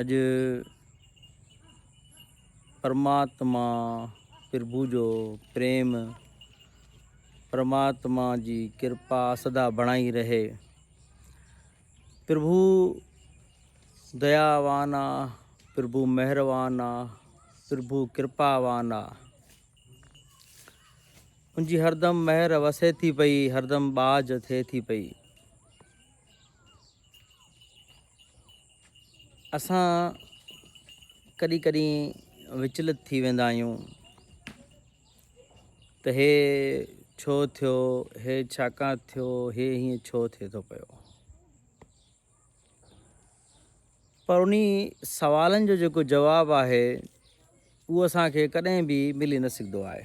اڄ پرماتما پرڀو جو پريم پرماتما جي ڪرپا سدا بڻائي رهي پرڀو دياوان آ پرڀو مهروان آ پرڀو ڪرپاوان آ ان جي هردم مهر وسي ٿي پئي هردم باج ٿئي ٿي پئي اسان ڪڏهن ڪڏهن وچلت ٿي ويندا آهيون ته هي ڇو ٿيو هي ڇاڪاڻ ٿيو هي هيئن ڇو ٿئي ٿو پيو پر انهي سوالن جو جيڪو جواب آهي اهو اسان کي ڪڏهن به ملي نه سگهندو آهي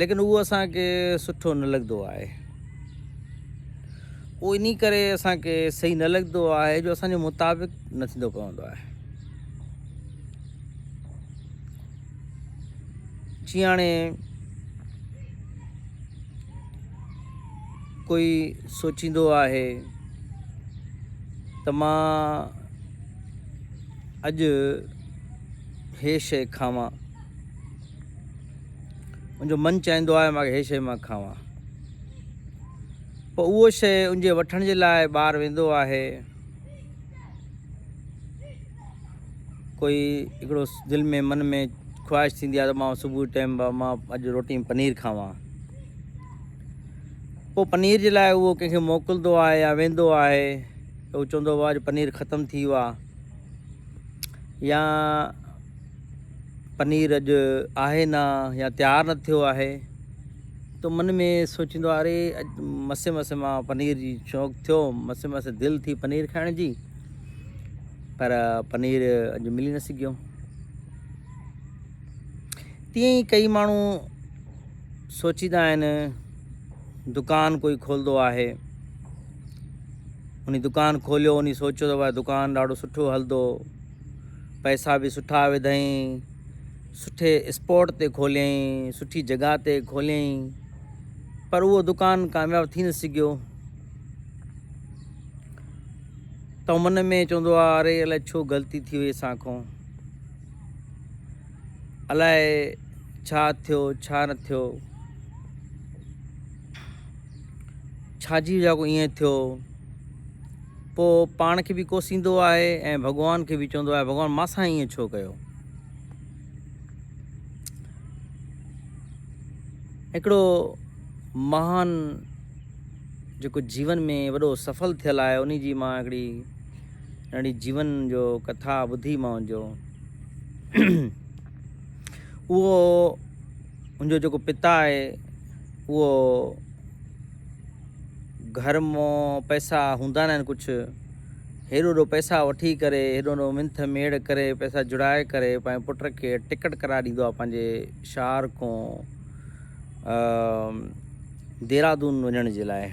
ليڪن اهو اسان کي سٺو نه لڳندو آهي اهو انهي ڪري اسان کي صحيح نه لڳندو آهي جو اسان جي مطابق نه ٿيندو پوندو آهي جي هاڻي ڪوئي سوچيندو آهي ته مان اڄ هي شيء کاوان منهنجو من چاهيندو آهي مان هي شيء مان کاوان. پوء اهو شيء ان جي وٺڻ جي لاء ٻاهر ويندو آهي. ڪوئي هڪڙو دل ۾ من ۾ خواهش ٿيندي آهي ته مان صبح جي ٽيم مان اڄ روٽي ۾ پنير کاوان. پوء پنير جي لاء اهو ڪنهن کي موڪلندو آهي يا ويندو آهي ته اهو چوندو آهي اڄ پنير ختم ٿي ويو آهي يا پنير اڄ آهي نه يا تيار نه ٿيو آهي تو من ۾ سوچيندو آهي اري اڄ مسي مسي مان پنير جي شوق ٿيو مسي مسي دل ٿي پنير کائڻ جي پر پنير اڄ ملي نه سگهيو تيئن ئي ڪئي ماڻهو سوچيندا آهن دڪان ڪوئي کولندو آهي اني دڪان کوليو اني سوچيو ته دڪان ڏاڍو سٺو هلندو پئسا به سٺا وڌائين، سٺي اسپاٽ تي کوليائين، سٺي جڳهه تي کوليائين پر اهو دڪان ڪامياب ٿي نه سگهيو. ته من ۾ چوندو آ اري الائي ڇو غلطي ٿي وئي اسان کون الائي ڇا ٿيو ڇا نه ٿيو ڇا جي وجه کون ائين ٿيو. پوء پاڻ کي به ڪوسيندو آهي ۽ ڀڳوان کي به چوندو آهي ڀڳوان مان سان ائين ڇو ڪيو. هڪڙو مهان جيڪو جيون ۾ وڏو سفل ٿيل آهي انهي جي مان هڪڙي ننڍي جيون جو ڪٿا ٻڌي مانهن جو اهو ان جو جيڪو پتا آهي اهو گهر مئو پئسا هوندا ناهن ڪڇ، هيڏو هيڏو پئسا وٺي ڪري، هيڏو هيڏو منٿ ميڙ ڪري، پئسا جڙائي ڪري پنهنجي پٽ کي ٽڪٽ ڪرائي ڏيندو آهي پنهنجي شهر کون ديرادون وڃڻ جي لاء.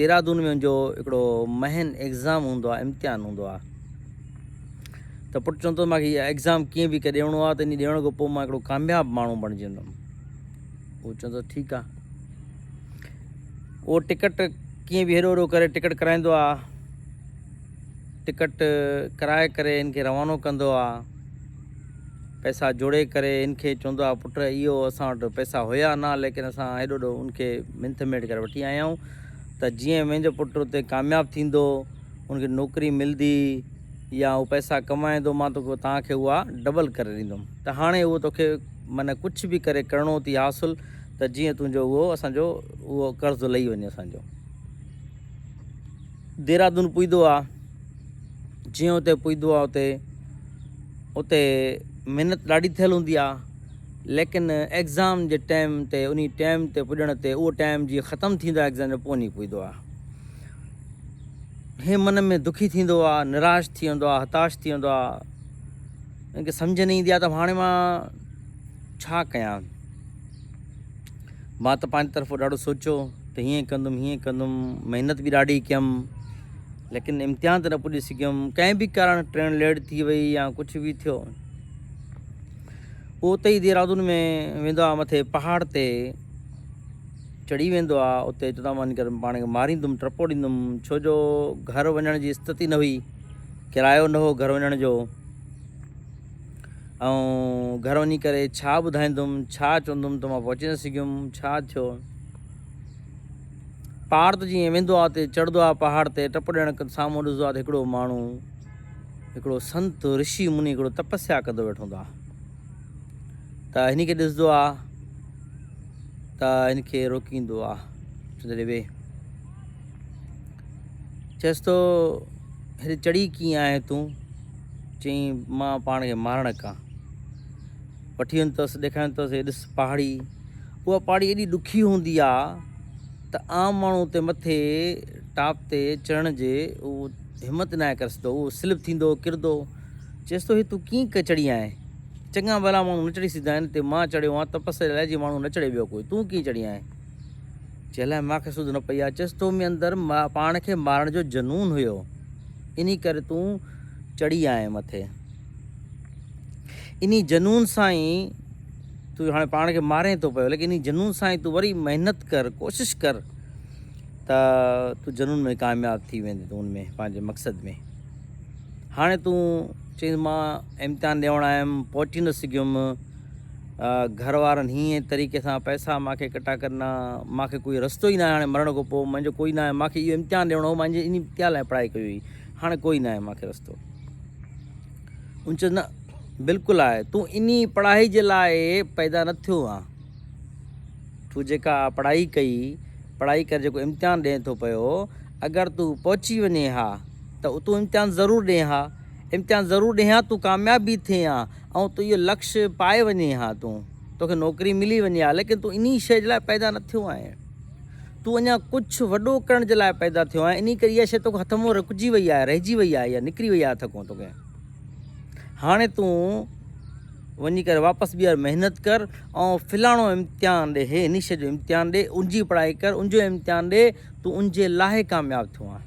ديرادون ۾ جو هڪڙو مهين ايگزام هوندو آهي، امتحان هوندو آهي. ته پٽ چوندو مانکي ايگزام ڪيئن به ڪري ڏيڻو آهي ته انهي ڏيڻ کان پوء مان هڪڙو ڪامياب ماڻهو بڻجي ويندم. هو چوندو آهي ٺيڪ آهي. اهو ٽڪٽ ڪيئن به هيڏو هوڏو ڪري ٽڪٽ ڪرائيندو آهي. ٽڪٽ ڪرائي ڪري هن کي روانو ڪندو آهي. پئسا جوڙي ڪري هن کي چوندو آهي پٽ اهو اسان وٽ پئسا هيا نه ليڪن اسان هيڏو هوڏو هن کي منٿ ميڙ ڪري وٺي آيا آهيون ته جيئن منهنجو پٽ اتي ڪامياب ٿيندو هن کي نوڪري ملندي يا هو پئسا ڪمائيندو مان توکي توهان کي اها ڊبل ڪري ڏيندم ته هاڻي اهو توکي من ڪڇ به ڪري ڪرڻو ٿي حاصل ته جيئن تنهنجو اهو اسان جو اهو قرض لهي وڃي اسان جو ديرادون پويدو آ جيئن اتي پويدو آ اتي اتي محنت ڏاڍي ٿيل هوندي آ ليڪن ايگزام جي ٽائم تي اني ٽائم تي پڄڻ تي اهو ٽائم جي ختم ٿيندو آ ايگزام جو پوني پويدو آ هي من ۾ دکي ٿيندو آ نراش ٿي ويندو آ هتاش ٿي ويندو آ ان کي سمجهه نه ايندي آهي ته هاڻي مان ڇا ڪيان. مان ته پنهنجي طرفون ڏاڍو سوچيو ته هيئن ڪندم هيئن ڪندم محنت به ڏاڍي ڪيم ليڪن امتحان ته نه پڄي سگهيم ڪنهن به ڪارڻ ٽرين ليٽ ٿي وئي يا ڪجهه به ٿيو پوء اتي ئي ديرادون ۾ ويندو آهي مٿي پهاڙ تي چڙهي ويندو آهي اتي چوندو آهي وڃي ڪري پاڻ کي ماريندم ٽپو ڏيندم ڇو جو گهر وڃڻ جي استت ئي نه هئي ڪرايو نه هو گهر وڃڻ جو، آئون گهر وڃي ڪري ڇا ٻڌائيندم، ڇا چوندم ته مان پهچي نه سگهيم، ڇا ٿيو؟ پار ته جيئن ويندو آ تي چڙهندو آ پهاڙ تي، ٽپ ڏيڻ کن سامهون ڏسندو آ ته هڪڙو ماڻهو، هڪڙو سنت، رشي مني هڪڙو تپسيا ڪندو ويٺو هوندو آ. ته هن کي ڏسندو آ ته هن کي روڪيندو آ، چوندو آ ڙي ويهه. چيس ٿو، هيڏي چڙي ڪيئن آهين تون؟ چيائين، مان پاڻ کي مارڻ ڪان. وٺي وڃ تس، ڏيکاريائين تس، هي ڏس پهاڙي. اها پهاڙي ايڏي ڏکي هوندي آ ته عام ماڻهو اتي مٿي ٽاپ تي چڙهڻ جي همت ناهي ڪري سگهندو، اهو سلپ ٿيندو، ڪرندو. چيس ٿو، هي تون ڪيئن چڙهي آهين؟ چڱا ڀلا ماڻهو نه چڙهي سگهندا آهن، هتي مان چڙهيو آهيان تپسري لاء، جي ماڻهو نه چڙهي ٻيو ڪوئي، تون ڪيئن چڙهي آهين؟ جنهن لاء مان کي سڌ نه پئي اچيس. تو ۾ اندر پاڻ کي مارڻ جو جنون هيو، انهي ڪري تون چڙهي آئين مٿي. انهي جنون سان ئي تون هاڻي پاڻ کي مارين ٿو پيو، ليڪن انهي جنون سان ئي تون وري محنت ڪر، ڪوشش ڪر ته تون جنون ۾ ڪامياب ٿي ويندين، تون ان ۾ پنهنجي مقصد ۾. هاڻي تون چيس مان امتحان ڏيڻ آيم، پهچي نه سگهيم. گهر وارن هينئين طريقي سان پئسا مان کي ڪٽا ڪرنا، مان کي ڪوئي رستو ئي ناهي هاڻي مرڻ کان پوء منهنجو ڪوئي ناهي، مان کي اهو امتحان ڏيڻو هو، مان انهي امتحان لاء پڙهائي ڪئي هئي، هاڻي ڪوئي ناهي مان کي رستو. ان چيس نه بلڪل آهي، تون انهي پڙهائي جي لاء پيدا نه ٿيو آن، تون جيڪا پڙهائي ڪئي، پڙهائي ڪري جيڪو امتحان ڏئين ٿو پيو، اگر تون پهچي وڃين ها ته تون امتحان ضرور ڏئين ها، امتحان ضرور ڏئين ها، تون ڪامياب به ٿئين ها، ۽ تو اهو لڪش پائي وڃين ها تون توکي نوڪري ملي وڃي ها ليڪن تون انهي شيء جي لاء پيدا نه ٿيو آهين تون اڃا ڪجهه وڏو ڪرڻ جي لاء پيدا ٿيو آهين انهي ڪري اها شيء توکان هٿ منهن رڪجي وئي آهي رهجي وئي آهي اها نڪري وئي آهي هٿ کان توکي هاڻي تون وڃي ڪري واپس ٻيهر محنت ڪر ۽ فلاڻو امتحان ڏي هي انهي شيء جو امتحان ڏي ان جي پڙهائي ڪر ان جو امتحان ڏي تون ان جي لاء ڪامياب ٿيو آهين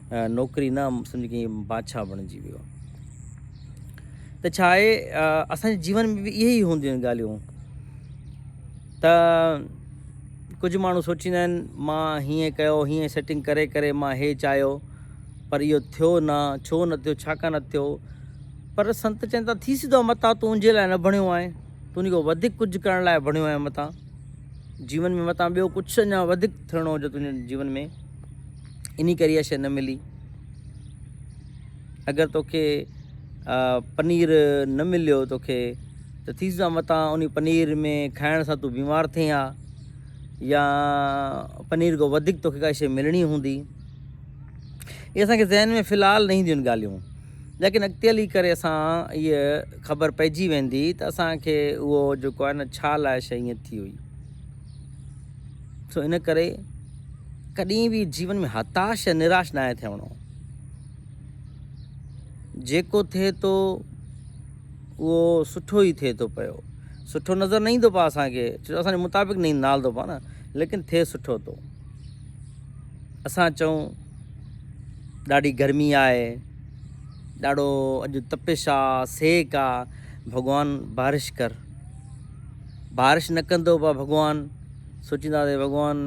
نوڪري نه سمجهه ڪي بادشاهه بڻجي ويو ته ڇا آهي اسان جي جيون ۾ به اهي ئي هونديون آهن ڳالهيون ته ڪجهه ماڻهو سوچيندا آهن مان هيئن ڪيو هيئن سيٽنگ ڪري ڪري مان هي چاهيو پر اهو ٿيو نه ڇو نه ٿيو ڇا ڪان ٿيو پر سنت چون ٿا ٿي سڌو متان تنهنجي لاء نه بڻيو آهي تون هن کان وڌيڪ ڪجهه ڪرڻ لاء بڻيو آهي متان جيون ۾ متان ٻيو ڪجهه اڃا وڌيڪ ٿيڻو هجو تنهنجي جيون ۾ انهي ڪري اها شيء نه ملي. اگر توکي پنير نه مليو توکي ته ٿي سگهندو آهي متان انهي پنير ۾ کائڻ سان تون بيمار ٿئين ها يا پنير کان وڌيڪ توکي ڪا شيء ملڻي هوندي. اهي اسان کي ذهن ۾ في الحال نه اينديون آهن ڳالهيون ليڪن اڳتي هلي ڪري اسان اهي خبر پئجي ويندي ته اسان کي اهو جيڪو آهي نه ڇا لاء شيء ائين ٿي هئي. سو ان ڪري ڪڏهن به جيون ۾ هتاش يا نراش ناهي ٿيڻو. جيڪو ٿئي ٿو اهو سٺو ئي ٿئي ٿو پيو. سٺو نظر نه ايندو پاء اسان کي، ڇو جو اسان جي مطابق نه نالدو پاء نه، ليڪن ٿئي سٺو ٿو. اسان چئون ڏاڍي گرمي آهي، ڏاڍو اڄ تپش آ، سيڪ آ، ڀڳوان بارش ڪر. بارش نه ڪندو پا ڀڳوان. سوچيندا تي ڀڳوان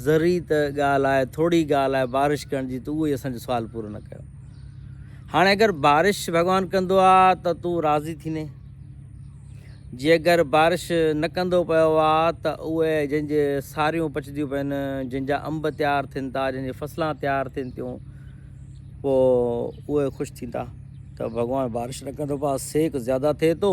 ذري ته ڳالهه آهي، ٿورڙي ڳالهه آهي بارش ڪرڻ جي، تون اهو ئي اسان جو سوال پورو نه ڪيو. هاڻي اگر بارش ڀڳوان ڪندو آ ته تون راضي ٿيندين. جي اگر بارش نه ڪندو پيو آ ته اهي جن جي ساريون پچنديون پين، جن جا انب تيار ٿين ٿا، جن جي فصلان تيار ٿين ٿيون، پو اهي خوش ٿيندا ته ڀڳوان بارش نه ڪندو پا سيڪ زياده ٿئي ٿو.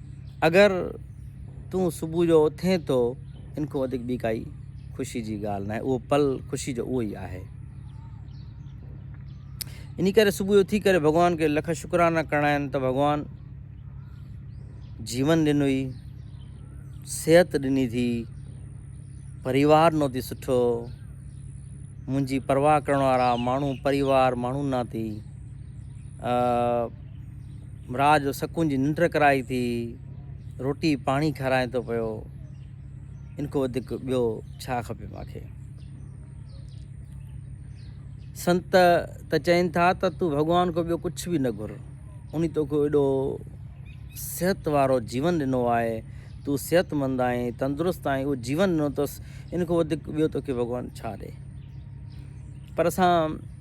اگر تون صبح جو اٿين ٿو، ان کان وڌيڪ ٻي ڪائي خوشي جي ڳالهه ناهي. اهو پل خوشي جو اهو ئي آهي. انهي ڪري صبح جو اٿي ڪري ڀڳوان کي لک شڪرانا ڪرڻا آهن ته ڀڳوان جيون ڏنوئي، صحت ڏني ٿي، پريوار نو ٿي سٺو، منهنجي پرواهه ڪرڻ وارا ماڻهو پريوار ماڻهو ناتي رات جو سڪون جي ننڊ ڪرائي ٿي، روٽي پاڻي کارائين ٿو پيو، ان کان وڌيڪ ٻيو ڇا کپي مان کي. سنت ته چين ٿا ته تون ڀڳوان کان ٻيو ڪجهه به نه گهر، انهي توکي ايڏو صحت وارو جيون ڏنو آهي، تون صحتمند آهين، تندرست آهين، اهو جيون ڏنو اٿس، ان کان وڌيڪ ٻيو توکي ڀڳوان ڇا ڏي. پر اسان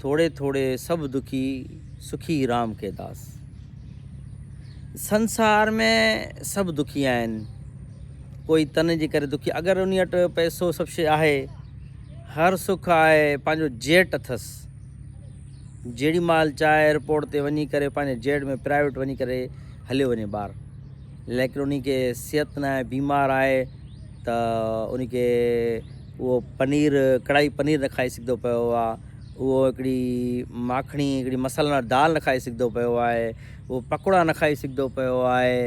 ٿوڙي ٿوڙي سڀ دکي سکي رام ڪي داس. سنسار ۾ سڀ دکي آهن. ڪوئي تن جي ڪري دکي اگر انهي وٽ پئسو سڀ شي آهي هر سک آهي پنهنجو جيٽ اٿس جيڙي مال چاهي ايئرپورٽ تي وڃي ڪري پنهنجي جيٽ ۾ پرائيويٽ وڃي ڪري هليو وڃي ٻار ليڪن انهي کي صحت ناهي بيمار آهي ته انهي کي اهو پنير ڪڙائي پنير نه کائي سگهندو پيو آهي، اهو هڪڙي ماکڻي هڪڙي مصالحن واري دال نه کائي سگهندو پيو آهي، اهو پڪوڙا نه کائي سگهندو پيو آهي،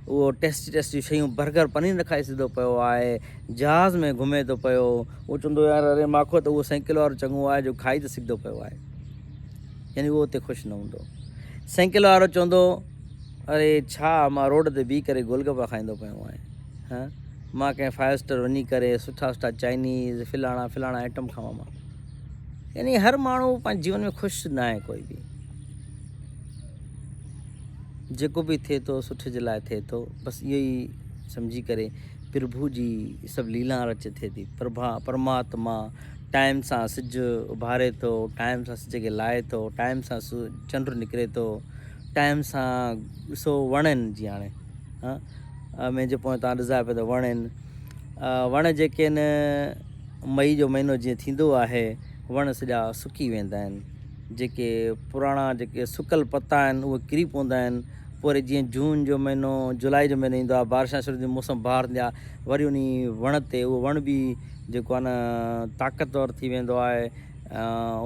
اهو ٽيسٽي ٽيسٽي شيون برگر پنير نه کائي سگهندو پيو آهي، جهاز ۾ گهمي ٿو پيو، اهو چوندو يار اري ماکو ته اهو سائيڪل وارو چڱو آهي جو کائي ته سگهندو پيو آهي، يعني اهو اتي خوش نه هوندو، سائيڪل وارو چوندو اري ڇا مان روڊ تي بيهي ڪري گول گپا کائيندو پيو آهيان. ها مان ڪنهن فائيو اسٽر وڃي ڪري سٺا سٺا چائنيز فلاڻا فلاڻا آئٽم کاوا مان يعني هر ماڻهو پنهنجي جيون ۾ خوش نه آهي ڪوئي به جيڪو به ٿئي ٿو سٺ جي لاء ٿئي ٿو بس اهو ئي سمجهي ڪري پرڀو جي سڀ ليلا رچ ٿئي ٿي پرڀا پرماتما ٽائم سان سج اڀاري ٿو ٽائم سان سج کي لائي ٿو ٽائم سان چنڊ نڪري ٿو ٽائم سان ڏسو وڻن جي هاڻي ۾ جي پويان تان ڏسجا پيا ته وڻ هن وڻ جيڪي هن مئي جو مهينو جيئن ٿيندو آهي وڻ سڄا سڪي ويندا آهن جيڪي پراڻا جيڪي سڪل پتا آهن اهي ڪري پوندا آهن پوري وري جيئن جون جو مهينو جولاء جو مهينو ايندو آهي بارشان شروع ٿيندي موسم بهار ٿيندي آهي وري انهي وڻ تي اهو وڻ به جيڪو آهي نه طاقتور ٿي ويندو آهي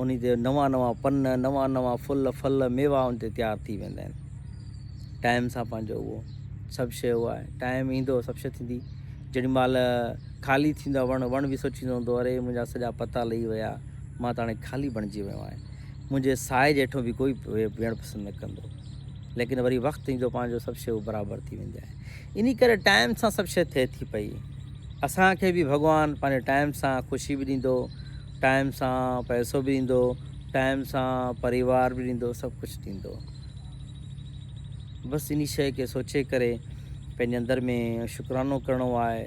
انهي تي نوان نوان پن نوان نوان ڦل ڦل ميوا ان تي تيار ٿي ويندا آهن ٽائيم سان پنهنجو اهو سڀ شيء اهو آهي ٽائيم ايندو سڀ شيء ٿيندي جيڏي مهل خالي ٿيندا وڻ وڻ به سوچيندو هوندو اري منهنجا سڄا پتا لهي ويا مان ته هاڻي خالي بڻجي ويو آهيان منهنجي سائي جي هيٺون به ڪوئي ويهڻ پسند نه ڪندو ليڪن وري وقت ايندو پنهنجو سڀ شيء برابر ٿي ويندي آهي اني ڪري ٽائيم سان سڀ شيء ٿئي ٿي پئي اسان کي به ڀڳوان پنهنجي ٽائيم سان خوشي به ڏيندو ٽائيم سان پئسو به ڏيندو ٽائيم سان پريوار به ڏيندو سڀ ڪجهه ڏيندو بس انھي شيء کي سوچي ڪري پنھنجي اندر ۾ شڪرانو ڪرڻو آھي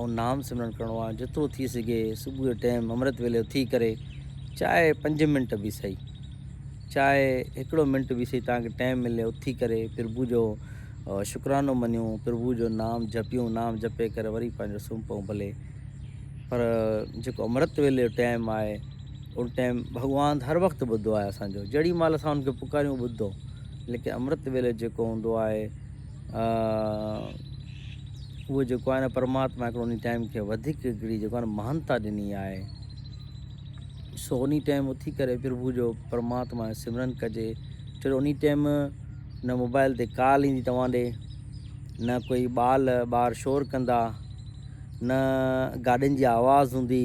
۽ نام سمرڻ ڪرڻو آھي جيترو ٿي سگھي صبح جي ٽيم امرت ويلي اٿي ڪري چاھي پنج منٽ به سھي چاھي ھڪڙو منٽ به سھي توھان کي ٽيم ملي اٿي ڪري پرڀو جو شڪرانو مڃون پرڀو جو نام جپيون نام جپي ڪري وري پنھنجو سمھه پئون ڀلي پر جيڪو امرت ويلي جو ٽيم آھي ان ٽيم ڀڳوان هر وقت ٻڌو آهي اسان جو جهڙي مهل اسان ان کي پڪاريون ٻڌو ليڪن امرت ويلي جيڪو هوندو آهي اهو جيڪو آهي نه پرماتما هڪڙو ان ٽيم کي وڌيڪ هڪڙي جيڪو آهي مهانتا ڏني آهي سو ان ٽيم اٿي ڪري پرڀو جو پرماتما سمرن ڪجي چلو ان ٽيم نه موبائل تي ڪال ايندي توهان ڏي نه کوئی ٻال ٻار شور ڪندا نه گاڏين جي آواز هوندي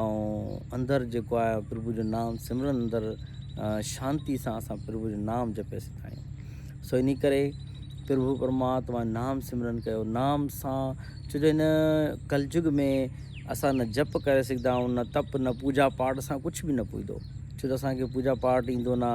۽ اندر جيڪو آهي پرڀو جو نام سمرن اندر شانتي سان اسان پرڀو جو نام جپي سگھندا آهيون سو انهي ڪري پرڀو پرماتما نام سمرن ڪيو نام سان ڇو جو هن ڪلجگ ۾ اسان نه جپ ڪري سگھندا آهيون نه تپ نه پوجا پاٽ سان ڪجھ به نه پوجدو ڇو جو اسان کي پوجا پاٽ ايندو نه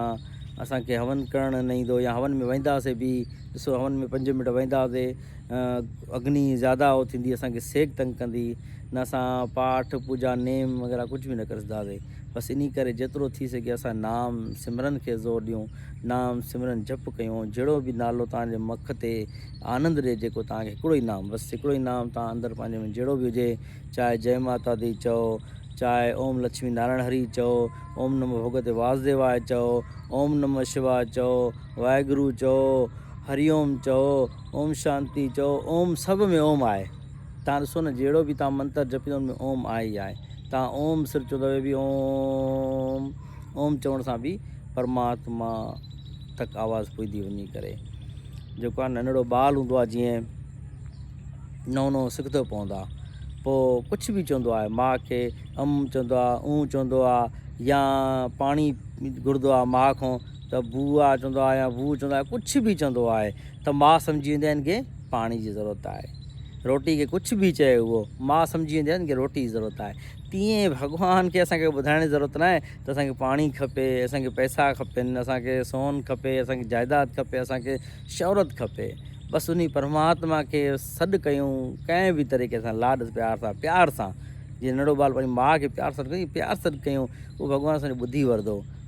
اسان کي هون ڪرڻ نه ايندو يا هون ۾ وينداسي به ڏسو هون ۾ پنج منٽ وينداسي اگني زياده هو ٿيندي اسان کي سيڪ تنگ ڪندي نه اسان پاٺ پوجا نيم وغيره ڪجهه به نه ڪري سگهندا هئي بس انهي ڪري جيترو ٿي سگهي اسان نام سمرن کي زور ڏيون نام سمرن جپ ڪيون جهڙو به نالو توهان جي مک تي آنند ڏي جيڪو توهان کي هڪڙو ئي نام بس هڪڙو ئي نام توهان اندر پنهنجي ۾ جهڙو به هجي چاهي جئي ماتا دي چئو چاهي اوم لڇمي نارائڻ هري چئو اوم نمو ڀڳوتي واسديواء چئو اوم نمو شواء چئو واحگرو چئو، هري اوم چئو، اوم شانتي چئو، اوم سڀ ۾ اوم آهي. تان ڏسو نه جهڙو به تان منتر جپيو ان ۾ اوم آهي ئي آهي. تان اوم صرف چئو ته به اوم اوم چوڻ سان به پرماتما تڪ آواز پڄدي وڃي ڪري. جيڪو آ ننڙو ٻال هوندو آ جيئن نئون نئون سکدو پوندو آ پو ڪڇ به چوندو آهي ماء کي ام چوندو آ اون چوندو آ يا پاڻي گهڙدو آ ماء کون. ته بوء چوندو آهي يا ووء چوندو آهي ڪجهه به چوندو آهي ته ماء سمجهي ويندي آهي هن کي پاڻي جي ضرورت آهي روٽي کي ڪجهه به چئي اهو ماء سمجهي ويندي آهي هن کي روٽي جي ضرورت آهي تيئن ڀڳوان کي اسان کي ٻڌائڻ جي ضرورت ناهي ته اسانکي پاڻي کپي اسانکي پئسا کپن اسانکي سون کپي اسانکي جائداد کپي اسانکي شهرت کپي بس انهي پرماتما کي سڏ ڪيون ڪنهن به طريقي سان لاڏ پيار سان پيار سان جيئن ننڍڙو ٻال پنهنجي ماء کي پيار سان سڏ ڪيون اهو ڀڳوان اسانجو ٻڌي ورندو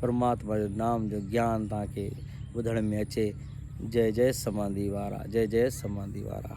پرماتما جو نام جو گيان تان کي ٻڌڻ ۾ اچي جئي جئي سمانڌي وارا جئي جئي سمانڌي وارا.